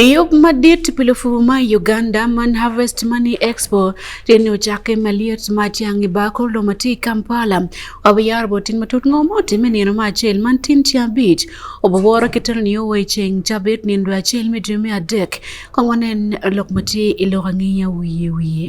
E yo madit pilufu ma Uganda man Harvest Money Expo tini ochake maliet ma tiang' ibako lo ma ti Kampala wabiyar bo tin matut ngo mo timi nino ma achel man tin tia bich oboboro kitero ni owe cheng chabit ni ndo achel mi dimi adek kongwanen lok ma ti ilok angiya wiye wiye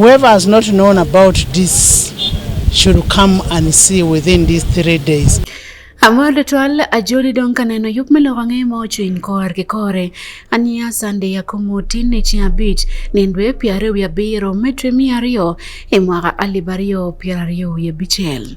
Whoever has not known about this should come and see within these three days. Amor de twal ajoli don kaneno yup melo wange mo chuin kor ke kore ania sande ya komo tinne chi abich nendwe piare wi abiro metre mi ario e mwaka alibario piare wi abichel.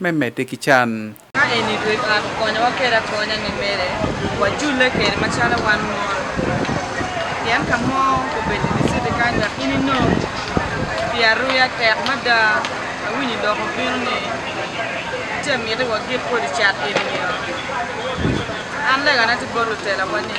me medde ki can. Ka eni dwe twak okonyo waker akonya ni mere wajulle kede macalo wan mon. Pien ka mo obedo ni citi kany dok in inong pi aruya tek mada awinyo dok obino ni ce miti wagik kodi cat eni. An legana ti bot lutelawa ni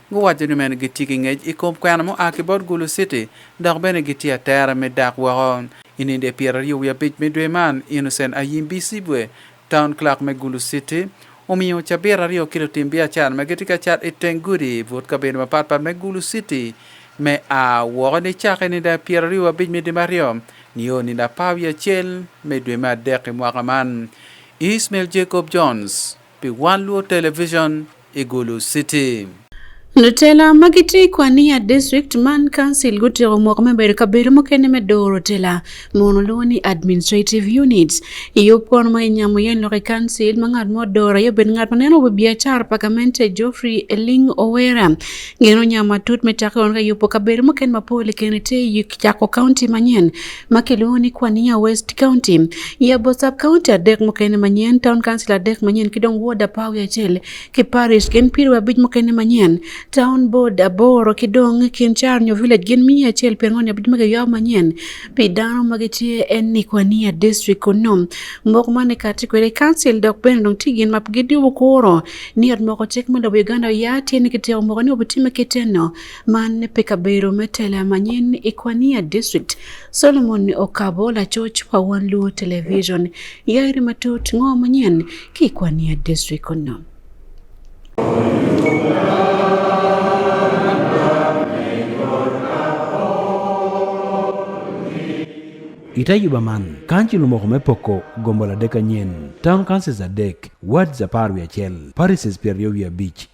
Guwaco ni meno gitye ki ngec i kom kwena mua ki bot Gulu City dok bene gitye atera me dak woko. I nino dye pyeraryo wiye abic me dwe man, Innocent Ayim Bisibwe, Town Clerk me Gulu City, omiyo cabit aryo ki lutim biacara ma gitye ka cat i teng gudi but kabedo mapat pat me Gulu City me a woko nicaka i nino pyeraryo abic me dwe me aryo nio nino apar wiye acel me dwe me adek i mwaka man. Ismail Jacob Jones pi One Luo Television. Igulu City. Lutela ma gitye i Kwania District man Council gutyeko moko me bedo kabedo mukene me doro tela mono lwongo ni Administrative Units. I yub kono ma inyamo yen loko i Council ma ngat mo doro aye obedo ngat ma neno wi biacara pa gamente Geoffrey Eling Owera. Gin onyamo matut me cake kono ka yubo kabedo mukene mapol i kene tye i Cako County manyen makeluongo ni Kwania West County. Yabo sub county adek mokene manyien, town council adek manyien, kidong ward apar gi achiel, kiparish gin piero abich mokene manyien, town board aboro, kidong Kincharnyo village gin mia achiel piero ang'wen abich mage yaw manyien. Pi dano mage tie en ni Kwania district kono. Moko mane kati kwere council dok bende dong ti gin map gidiwo koro ni ot moko chik mondo Uganda yati ni kiteo moko ni obitime kiteno. Man ne pe kabedo me tela manyen i Kwania District, Solomon Okabo lacoc pa One Luo Television, yairi matut ngo manyen ki Kwania District kono. Ita yuba man, kanci lumoko me poko gombo ladek anyen, town councils adek, wards apar wi acel, parishes pyeraryo wi abic,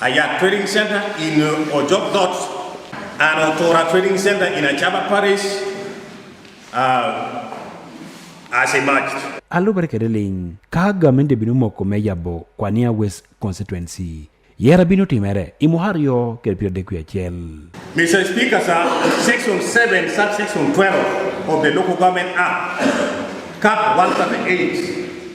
Hayat Trading Center in uh, Ojok Dot and Otora Trading Center in Achaba Parish uh, as a match. alubari kede ling ka gamente bino moko me yabo kwania west constituency yera bino timere i muhar yo kede piero dek wiye achiel Mr. Speaker, sir, section 7, subsection 12 of the Local Government Act, cap 138,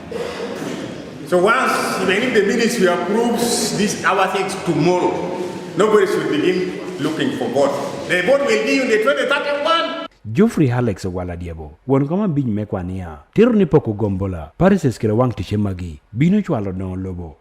So once even if the ministry approves this our things tomorrow, nobody should begin looking for vote. The vote will be on the 2031. Geoffrey Alex Ogwala Diebo, wuon kama biny mekwa niya, tero ni pok ugombola, Paris eskero wang' tiche magi, bino chwalo no lobo,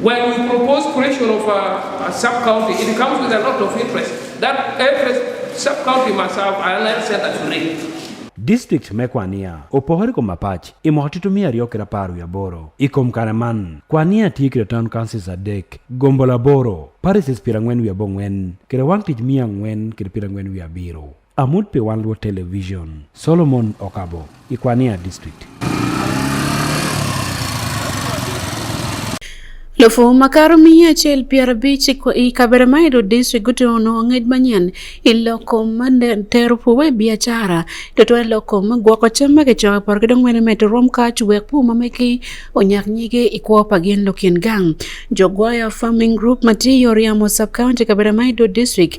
When you propose creation of a, a sub-county, it comes with a lot of interest. That every sub-county must have an health center to read. District mekwania opogore kom mapach imo titu mia ariyo kira apar wi aboro ikom kare man kwania tiyo kira town councils adek gombo laboro parishes piero ang'wen wi abong'wen kira wang' tich mia ang'wen kira piero ang'wen wi abiro Amut pi wan luo television. Solomon Okabo, Ikwania District. Lufu makar miya achiel piero abich i Kaberamairo district gutono ng'ej manyen i loko ma tero puwe biacara to twe loko ma gwoko cam ma kicoka poro ki dong mene medo rom kac wek pu ma meki onyak nyige i kwo pa gin lukin gang. Jogwaya Farming Group ma tye i Oriamo Sub County Kaberamairo District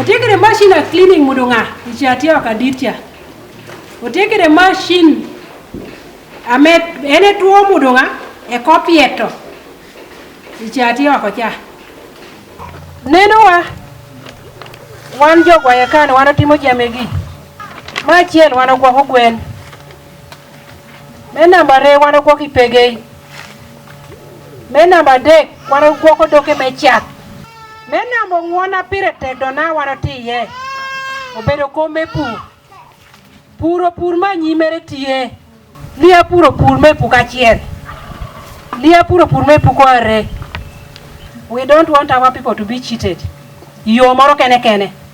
Otiekere machine a cleaning mondo ng'a ichatia wakaditia. Otiekere machine ame ene tuo mondo ng'a e kopieto ichatia wakocha. Neno wa wan jogwayo kan wan otimo jamegi. Machiel wan ogwako gwen. Me namba re wan ogwok ipegei. Me namba dek wan ogwok odoke me chak. Me namba ong'wona pire tek dona wan otiye. Obedo kom me pur. Puro pur ma nyimere tiye. Liya puro pur me puk achiel. Liya puro pur me puk are. We don't want our people to be cheated. Yo moro kene kene.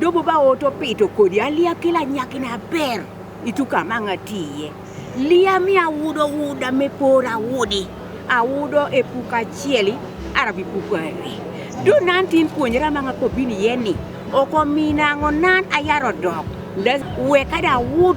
Dobo ba ot opito kodi aliya kila nyaki na ber itu ka ma nga tiye. Liya mi awudo wuda me por awudi. Awudo e puko achieli arabi puko ari. Do nan tin puonjra ma nga ko bini yeni. Oko mina ngo nan ayaro dok. Weka da wud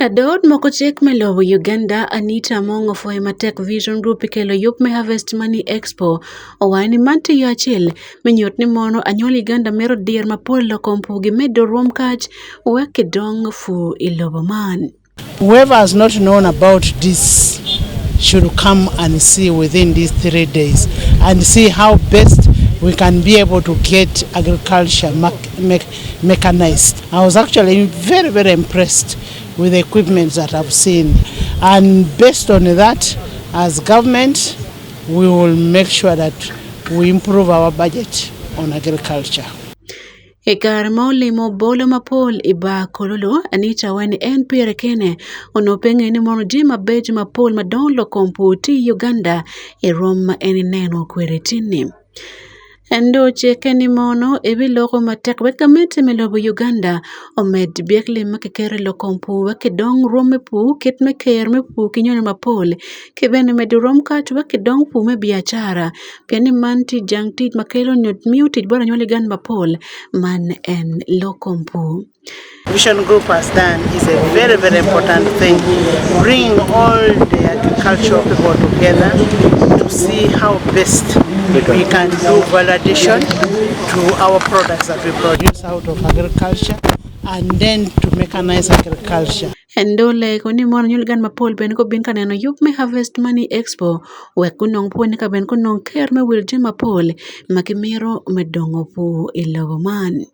Ladood moko chik me lowo Uganda Anita Among ofoyo matek Vision Group ikelo yup me Harvest Money Expo owaye ni man tiyo achiel minyot ni mono anyuol Uganda mero dier mapol loko mpugi medo ruom kach weke dong fu ilobo man. Whoever has not known about this should come and see within these three days and see how best we can be able to get agriculture market mechanized. I was actually very, very impressed with the equipment that I've seen. And based on that, as government, we will make sure that we improve our budget on agriculture. E kar ma olimo bolo ma pol i ba kololo, Anita weni en pire kene ono penge ni mono ji ma beji ma pol ma don lo kompo ti Uganda e rom ma en ineno kwere tinni. Ento ce keni mono ebiloko matek wek gamente me lobo Uganda omed byekli ma kiketo i lok kom pur wek kidong rwom me pur kit me keyo me pur ki nyono mapol ki bene medo rwom kac wek kidong pur me biacara pien ni man tye jang tic ma kelo nyo miyo tic bot anywali gan mapol man en lok kom pur. Vision Group has done is a very, very important thing. Bring all the agricultural people together to see how best we can do validation to our products that we produce out of agriculture and then to mechanize agriculture. Endole koni mon nyul gan mapol ben ko bin kaneno yup me Harvest Money Expo we kunong po ni ka ben kunong ker me wil jin mapol ma kimiro me dongo po i lobo man.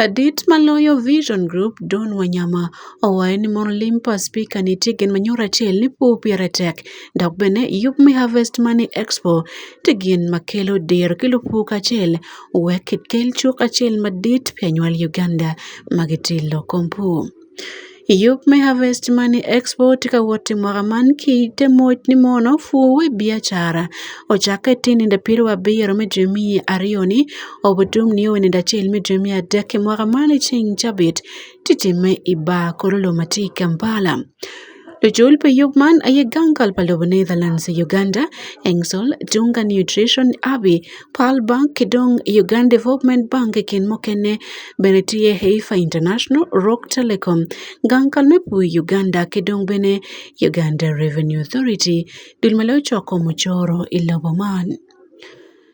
Adit maloyo Vision Group Don Wanyama owaye ni mondo olim pa spika nitie gen manyoro achiel ni po piere tek dok bene yup mi harvest money expo ti gin makelo dero kelo po kachiel wek kel chuk achiel madit pianywal Uganda magitilo kompu. Iyup me harvest money export ka wote mora man ki te moj ni mono fuwe biachara. Ochake ti nende piro wa biyero me dwe mi ariyo ni obutum ni owe nende achiel me dwe mi adek mora mani ching chabit titime iba koro loma ti Kampala. Ejul Peyugman aye gangal palobo Netherlands Uganda Engsol Tunga Nutrition Abi Pearl Bank Kidong Uganda Development Bank kin mokene bene tiye Heifa International Rock Telecom gangal mepu Uganda Kidong bene Uganda Revenue Authority dul male ochoko muchoro ilobo man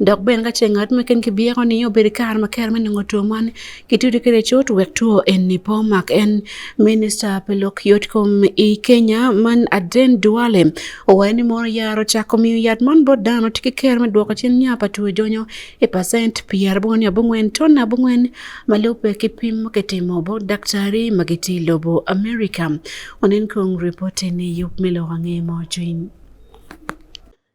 dok bene ka ce ngat meken kibyeko ni obedo kare ma kere me nongo two man kitudo kede cut wek two eni po mak en minista pe lok yot kom i kenya man aden duale owaye ni mono yaro cako miyo yat man bot dano tye ki kere me dwoko cen nya pa two jonyo i pacent pyera abongo ni abongwen ton abongwen ma lupe ki pim ma kitimo bo daktari ma gitye i lobo america onen kong ripoti ni yup me lok ange mo cwiny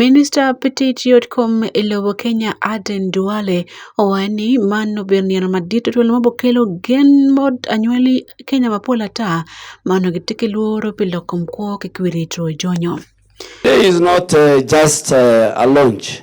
Minister petit yot kom e lobo Kenya Aden Duale owae ni man nobedo niang madit otuol ma bokelo gen mod anywali Kenya mapol ata mano gitiki luoro pi loko mkwo kikwiri to jonyo. Today is not uh, just uh, a launch.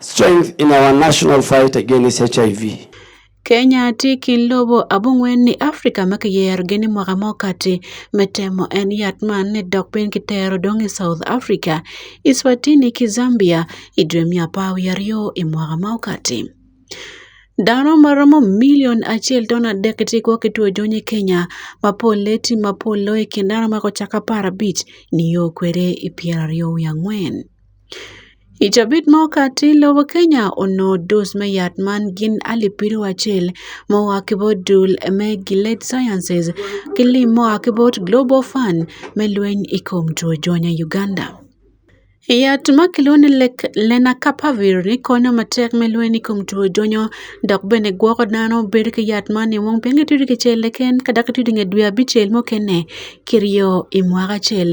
strength in our national fight against HIV. Kenya tye ki lobo abongwen ni Afrika ma kiyerogi ni mwaka mo kati me temo en yat man ni dok piny kitero dong i South Africa, Eswatini ki Zambia i dwe me apar wiye aryo i mwaka ma okati. Dano ma romo milion acel ton adek gitye gwok ki two jony i Kenya ma polle tye ma pol loyo i kin dano ma gucakke apar abic nio kwede i pyeraryo wiye angwen. I cabit mo kati lobo Kenya onongo dus me yat man gin alip piryo acel ma oa ki bot dul me Gilead Sciences ki lim ma oa ki bot Global Fund me lweny i kom two jony i Uganda. Yat ma kilwongo ni Lenacapavir ni konyo matek me lweny i kom two jonyo dok bene gwoko dano bedo ki yat man nio wong pien kitiyo ki cel keken ka dok itiyo ki nge dwe abicel mukene kiryo i mwaka acel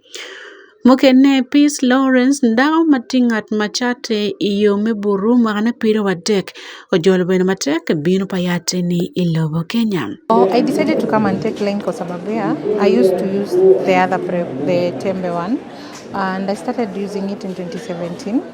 Mukene Peace Lawrence, dako ma tye ngat ma catte i yo me buru mwakne pido wa dek, ojolo bedo matek ki bino pa yatte-ni i lobo Kenya. Oh, I decided to come and take Lane kwa sababu ya I used to use the other prep, the tembe one and I started using it in 2017.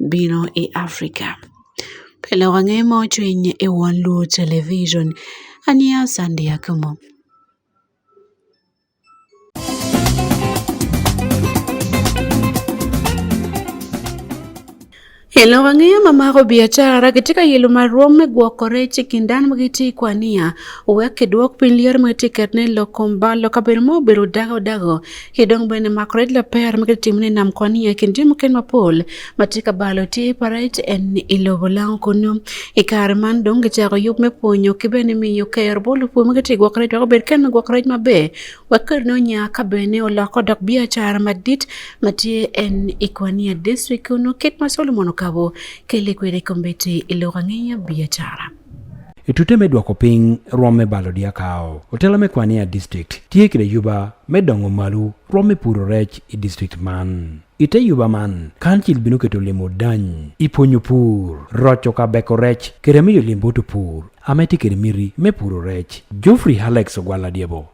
biro e Afrika. Pele wang'e mochwiny e won luo television. Ania Sandia Kumo. Hello, wang'eyo mamako biachara katika yelo marom me gwoko rech e kind dan magiti kwa niya owek kidwok piny lier magiti ket ne lokomba lokabedo ma obedo dago dago Kidong bene makore la per ma kitim ne nam kwani ya kindi mu ken mapol matika balo ti paret en ilobo lang kono ikar man dong ke chako yup me ponyo ki bene mi yo ker bolu pu ma kiti gwakore to ber ken gwakore ma be wakar no nya ka bene o lako dok bia char madit mati en ikwani ya district kono kit ma solomon kabo kele kwere kombete iloga ngeya bia chara Itute me dwoko piny rwom me balo dyakawo, otelo me kwania district tye kede yuba me dongo malu rwom me puro rec i district man. Ite yuba man, kancil bino keto limo dany i pwonyo pur, roco ka beko rec kede miyo limbo to pur ame tye kede miti me puro rec. Geoffrey Alex Ogwal Adyebo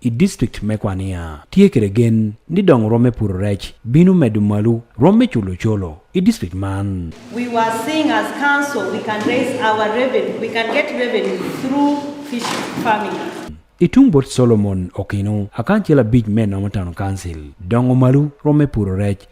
i distrikt me Kwania. Tye kede gen ni dong rwom me puro rec bino medo malu rwom me culo colo i distrikt man. We were seeing as council we can raise our revenue, we can get revenue through fish farming. I tung bot Solomon Okinu, akan cel abic me nomo town council, dongo malu rwom me puro rec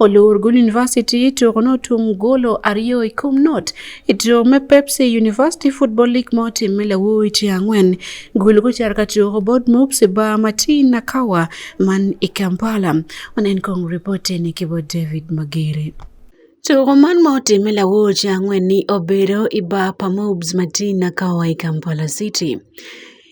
Olorgun University to kono tum golo ariyo i kom not i to me Pepsi University Football League mo tim me lawu i ti angwen gulu ko char ka to ko bod mup se ba mati na kawa man i Kampala onen kong reporte ni ke bod David Magere. Tugo man ma otime lawoche ang'wen ni obedo i bar pa Mobs Matina Kawa i Kampala City.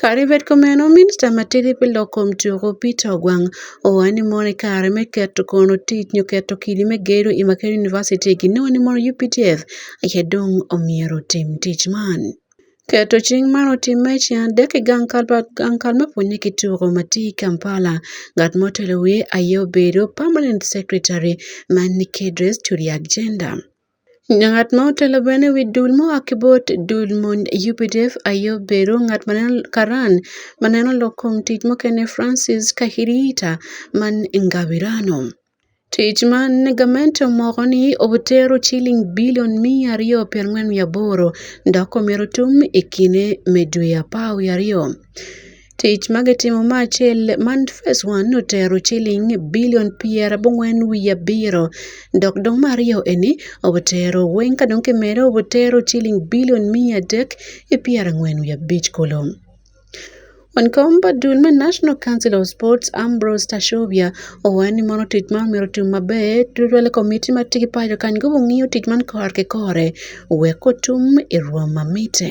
Kadi bed kumeno, Minista matidi pi lok kom tuku, Peter Ogwang, owaco ni mono i kare me keto kono tic nyo keto kidi me gedo i Makerere University ginongo ni mono UPTF aye dong omyero otim tic man. Keto cing man otimme i ceng adek i gang kal me pwonye ki tuku ma tye i Kampala. Ngat ma otelo wiye aye obedo Permanent Secretary ma Nikedres Turiakjenda. Ng'at ma otelo bene ewi dul moa Kibot, dul mond Yupidef, Ayob Bero, ng'at ma en Karan, ma ne en olok kuom tich moke ne Francis Kahiriita man Ngawirano. Tich ma ne gament omoko ni otero chiling bilion mia ariyo piero ang'wen mia aboro ndako mero tum e kine me dwe apar wi ariyo. Tic ma gitimo me acel man phase one ni otero ciling bilion pyerabongwen wiye abiro dok dong me aryo eni obutero weng ka dong kimede obutero ciling bilion miya adek ki pyerangwen wiye abic kulu. Wan kom pa dul me National Council of Sports Ambrose Tashobia owaco ni mono tic man myero otim maber tutwal i komitti ma tye ki paco kany gungiyo tic man kore ki kore wek otum i rwom ma mitte.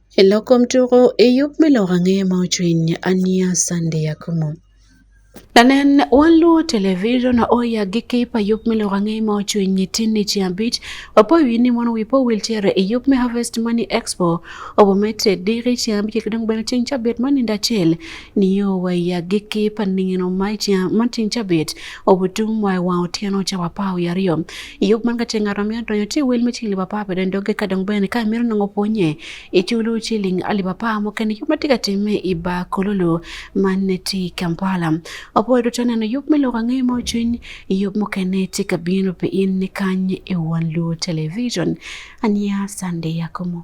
Elokomtuko eyup miloko ang'e ma ochwiny ania sande yakumo. Tanen wan luwo television oya gi kip ayup miloko ang'e ma ochwiny tinni ci abich wapo wi ni mon wi po wheelchair eyup me harvest money expo obo mete diri ci abich kidong bene cing cabit mani ndachiel niyo waya giki pa ningino ma tin cabit obutum wa wa otieno ca wa pao yariyo yok man kace ngaro mi adonyo ti wel mi cili papa pe den doge kadong ben ka mir nongo ponye e chulu cili ali papa mo ken yok matika time i ba kololo man ne ti kampala opo do tane no yok mi loka ngi mo chin yok mo ken ne ti kabino pe in ni kanye e wan lu television ania sande yakomo